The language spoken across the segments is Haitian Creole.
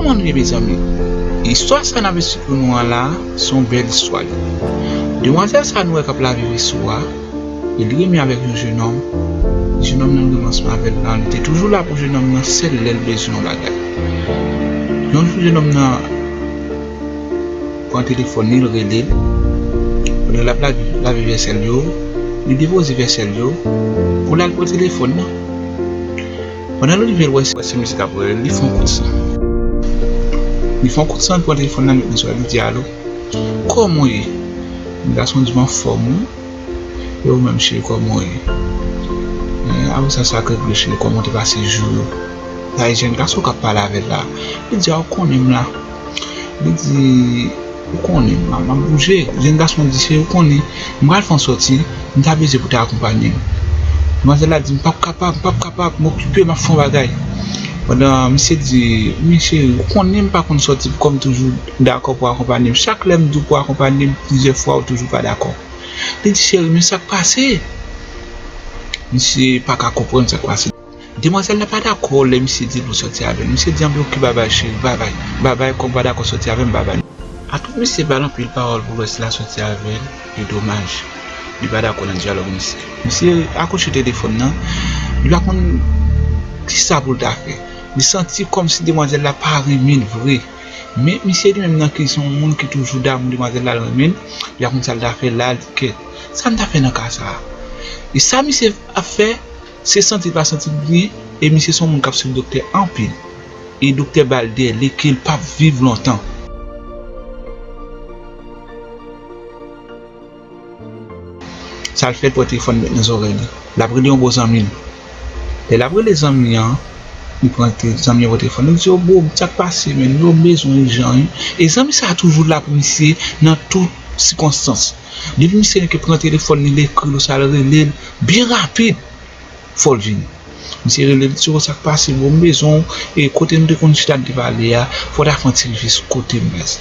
Kòman nou ye mezanmi? Istwa sa nap ekspike pou nou an la son bèl istwa li. Demwazèl sa nou wè kap lave veso a, li renmen avèk yon jenòm, jenòm nan renmen ansanm avèl lan, li te toujou la pou jenòm nan sèl lèl bezwen yon bagay. Yon jou jenòm nan pran telefòn li, li relel, pandan lap lave vèsèl yo, li depoze vèsèl yo, poul al pran telefòn nan. Pandan l rive l wè se misye k ap rele l, li fè yon kout san. Li fè yon kout san, li pran telefòn nan, li met nan zòrèy l, li di, Alo, kòman w ye? M gason di m anfòm wi, e ou menm cheri kòman w ye? Apre sa, sa k règle cheri, kòman w te pase jou yo? Sa e jèn gason k ap pale avè l la. Li di a, ou konnen m la. Li di, Ou konnen, m ap bouje. Jèn gason an di, Cheri, ou konnen, m pral fè yon sòti, m ta bezwen pou w ta akonpanye m. Demwazèl la di, M pap kapab, m pap kapab, m okipe, m ap fè yon bagay. Pandan misye di, Men cheri, ou konnen m pa konn sòti poukò m toujou dakò pou w akonpanye m. Chak lè m di w pou w akonpanye m plizyè fwa ou toujou pa dakò. Li di, Cheri, men sa k pase? Misye pa ka konprann sa k pase. Demwazèl la pa dakò lè misye di l pou sòti avè l. Misye di anpil ok babay cheri, babay, babay kòm w pa dakò sòti avè m babay. Antouk misye ba l anpil pawòl pou lwès la sòti avè l e domaj li pa dakò nan dyalòg misye. Misye akouche telefòn nan, li pa konn kisa pou l ta fè. Li santi kòmsi demwazèl la pa renmen l vre. Men misye li menm nan ke li se yon moun ki toujou damou demwazèl la l renmen l, li pa konn sa l ta fè la li kèt. Sa m ta fè nan ka sa a? E sa misye ap fè? Se santi l pa santi l byen e misye son moun kap swiv doktè anpil e doktè bal dèle kel pap viv lontan. Sal fè l pran telefòn li met nan zòrèy li lap rele yon bon zanmi l lè lap rele zanmi an li pran zanmi an pran telefòn li di yo bro sak pase menn yo m bezwen ijan wi e zanmi sa toujou la pou misye nan tout sikonstans. Depi misye gen ke pran telefòn li, li ekril ou sa l rele l, byen rapid fò l vini. Misye rele l, li di w sa k pase bro, m bezwen w, e kote nou te konn chita n te pale a, fò w ta fè yon ti vizit kote m la sa.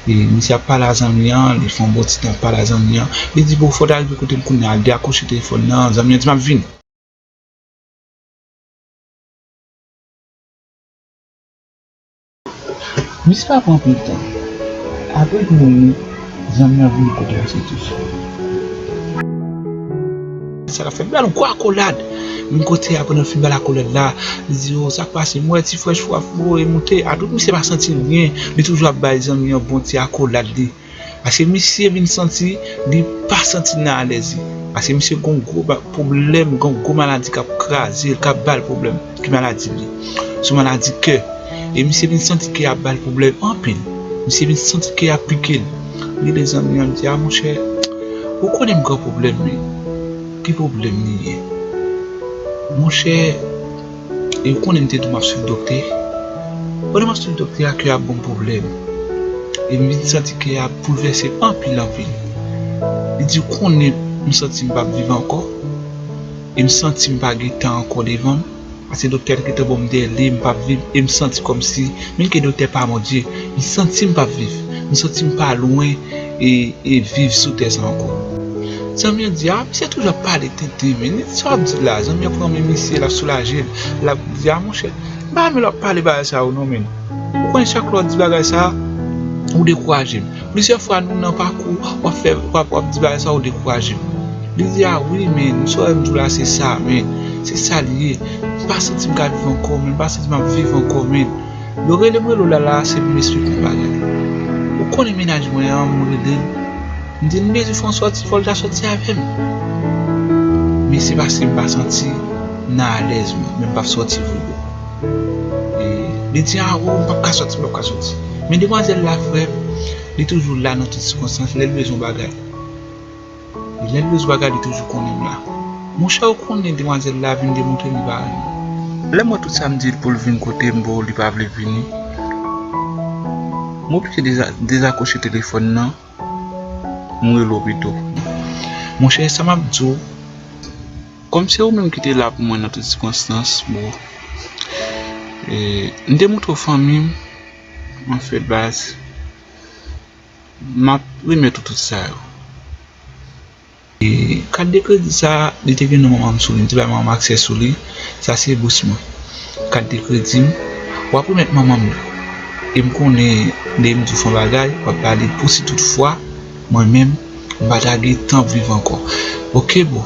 E misye ap pale a zanmi an, li fè yon bon ti tan ap pale a zanmi an, li di bro fò w ta rive kote m kounye a, li dekwoche telefòn nan, zanmi an di m ap vini. Misye pa pran anpil tan apre li moun li zanmi an vini pote yon ti tou. Sa lap fè bel gwo akolad. Menm kote ya pandan l fin bal akolad la li di yo sak pase m wè ti frèch wap voye moute a tout misye pa santi l byen li toujou ap bay zanmi an bon ti akolad li. Paske misye vin santi li pa santi l nan alèz li. Paske misye gon gwo bak pwoblèm, gon gwo maladi k ap kraze l, k ap ba l pwoblèm. Ki maladi li ye? Se yon maladi kè. E misye vin santi kè a ap ba l pwoblèm anpil. Misye vin santi kè a ap pike l. Li rele zanmi an, li di, A monchè, ou konnen m gen yon pwoblèm wi. Ki pwoblèm li ye? Monchè. E ou konnen m te di w m ap swiv doktè? Pandan m ap swiv doktè a, kè a ap ban m pwoblèm. E m vin santi kè a ap boulvèse anpil anpil. Li di, Ou konnen m santi m pa p viv ankò. E m santi m pa gen tan ankò devan m. Paske doktè a te gentan ban m dèle m pa p viv. E m santi kòmsi, menm ke doktè pa Bondye, m santi m pa p viv. M santi m pa lwen. e viv sou tè sa ankò zanmi an di a misye toujou ap pale tenten men li di sa wap di la zanmi an pran men misye lap soulajel lap di a monchè m pa renmen lè wap pale bagay sa yo non men ou konnen chak lè wap di bagay sa ou dekourajem plizyè fwa nou nan pakou wap fè wap wap di bagay sa ou dekourajem li di a wi men nou sa wèm di w la se sa men se sa liye m pa santi m ka viv ankò men m pa santi map viv ankò men. Yo rele mwen Lola la se pou m esplike yon bagay. Ou konnen mennaj mwen an m rele l m di l Mezi François ti Volta soti avè m men se paske m pa santi m nan alèz mwen men m p ap soti vre boo Li di a oo m p ap ka soti m p ap ka soti men demwazèl la frè m li toujou la nan tout sikonstans lè l bezwen yon bagay. Li lèl bezwa gad li toujou konnen m la. Monchè ou konnen demwazèl la vin demontre li pa renmen w. Lèm wè tout sam dil poul vin kotem boo li pa vle vini. M oblije dezakroche telefòn nan m rele w pito. Monchè sa map diw kòm se ou menm ki te la pou mwen nan tout sikonstans boo. M te montre w fanmi m anfen baz. Map remèt ou tout sa yo. E kat de kredi sa a li te gen non manman m sou li, m te bay manman m aksè sou li, sa se bous mwen. Kat de kredi m, wap remèt manman m li. E m konnen lè m di w fè yon bagay, wap pale pou si tout fwa mwen menm m pa ta gen tan viv ankò. Ok boo.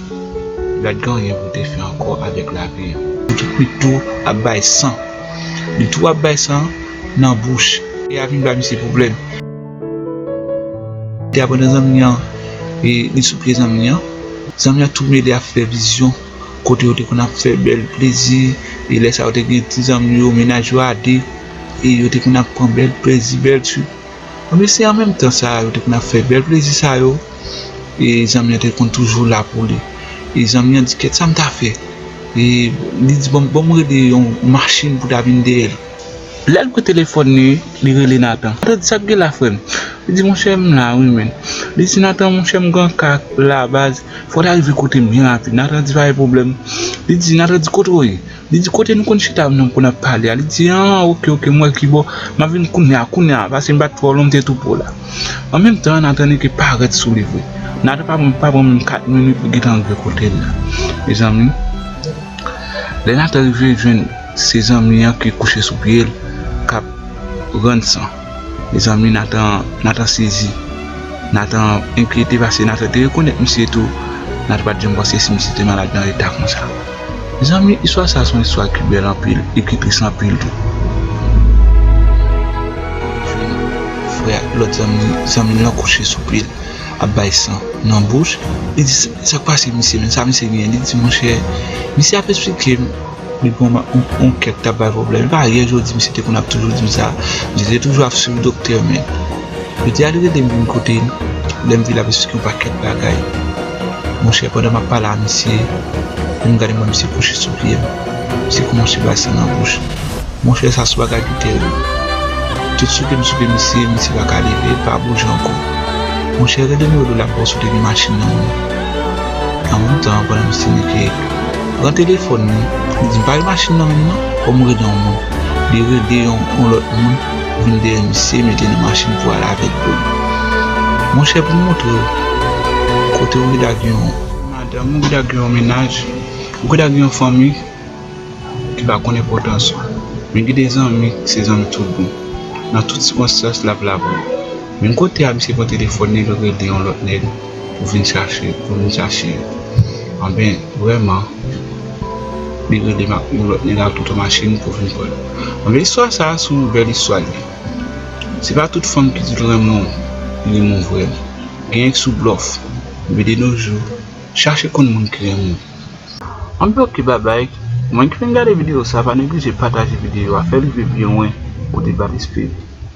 Gad gen anyen pou te fè ankò avèk lavi an. Li tou kwit tou ap bay san. Li tou ap bay san nan bouch. Tè a vin ba misye pwoblèm. Tè a pran dan zanmi an e li sou pye zanmi an. Zanmi an tou mele ap fè vizyon kote yo te konn ap fè bèl plezi e lè sa yo te gen ti zanmi yo mennaj yo a 2 e yo te konn ap pran bèl plezi bèl trip. Anpi se an menm tan sa yo te konn ap fè bèl plezi sa yo e zanmi an te konn toujou la pou li. E zanmi an di kèt sa m ta fè? E li di bon m rele yon machin pou ta vin dèyè l. Lè l pran telefòn li, li rele Nathan. Nathan di sa k gen la frè m? Li di monchè m la wi menn. Li di Nathan monchè m gen yon ka la baz fò w ta rive kote m byen rapid. Nathan di pa gen pwoblèm. Li di Nathan di kote w ye? Li di kote nou konn chita avnn pou nap pale a, li di an ok ok mwen kibò map vin kounya kounya pase mpat twò lwen mte tou pwo la an menm tan Nathan eke parèt sou li vre Nathan pa pran pa pran menm 4 minit li gentan rive kotel la mezanmi lè Nathan rive jwenn se zanmi an ki kouche sou pyel kap rann san. Mezanmi Nathan Nathan sezi Nathan enkyete paske Nathan te rekonèt misye tou Nathan pat janm panse si misye te malad nan eta konsa Mezanmi istwa sa son istwa ki bèl anpil e ki tris anpil tou Frè a lòt zanmi zanmil lan kouche sou pye l ap bay san nan bouch li di sak pase misye menm sa misye genyen li di monchè misye ap esplike m. Li pran yon kèk tap bay pwoblèm. Se pa yè jodi misye te konn ap toujou di m sa. Misye te toujou ap swiv doktè men. Jodi a li rele m vin kote l. Lè m vin lap esplike yon pakèt bagay. Monchè pandan map pale a misye, lè m gade m wè misye kouche sou pye m. Misye koumanse bay san nan bouch. Monchè sa se yon bagay ki terib. Tout souke m souke misye, misye pa ka leve, li pa bouje ankò. Monchè rele m rele w lap ba w soti nan machin nan. An menm tan pandan misye nike. Pran telefòn li, li di m pa gen machin nan menm nan, fò m rele yon moun. Li rele yon lòt moun vin dèyè misye mete nan machin pou al avè l pou li. Monchè pou m montre w kote ou geta gen yon. Madanm, ou geta gen yon mennaj, ou geta gen yon fanmi ki pa konn enpòtans ou. Men gen de zanmi ki se zanmi tout bon. Nan tout sikonstans l ap la pou ou. Menm kote a misye pran telefòn nèg yo rele yon lòt nèg pou vin chache pou vin chache yo anben vrèman li rele yon lòt nèg ak tout yon machin pou vin pranl anben istwa sa se yon bèl istwa li ye se pa tout fanm ki dil renmen w li renmen w vrè gen nèg sou blòf men de no jou chache konn moun ki renmen w. Anben ok babay mwen ki vin gade video sa pa neglije pataje video a fèl rive pi lwen kote bat espri.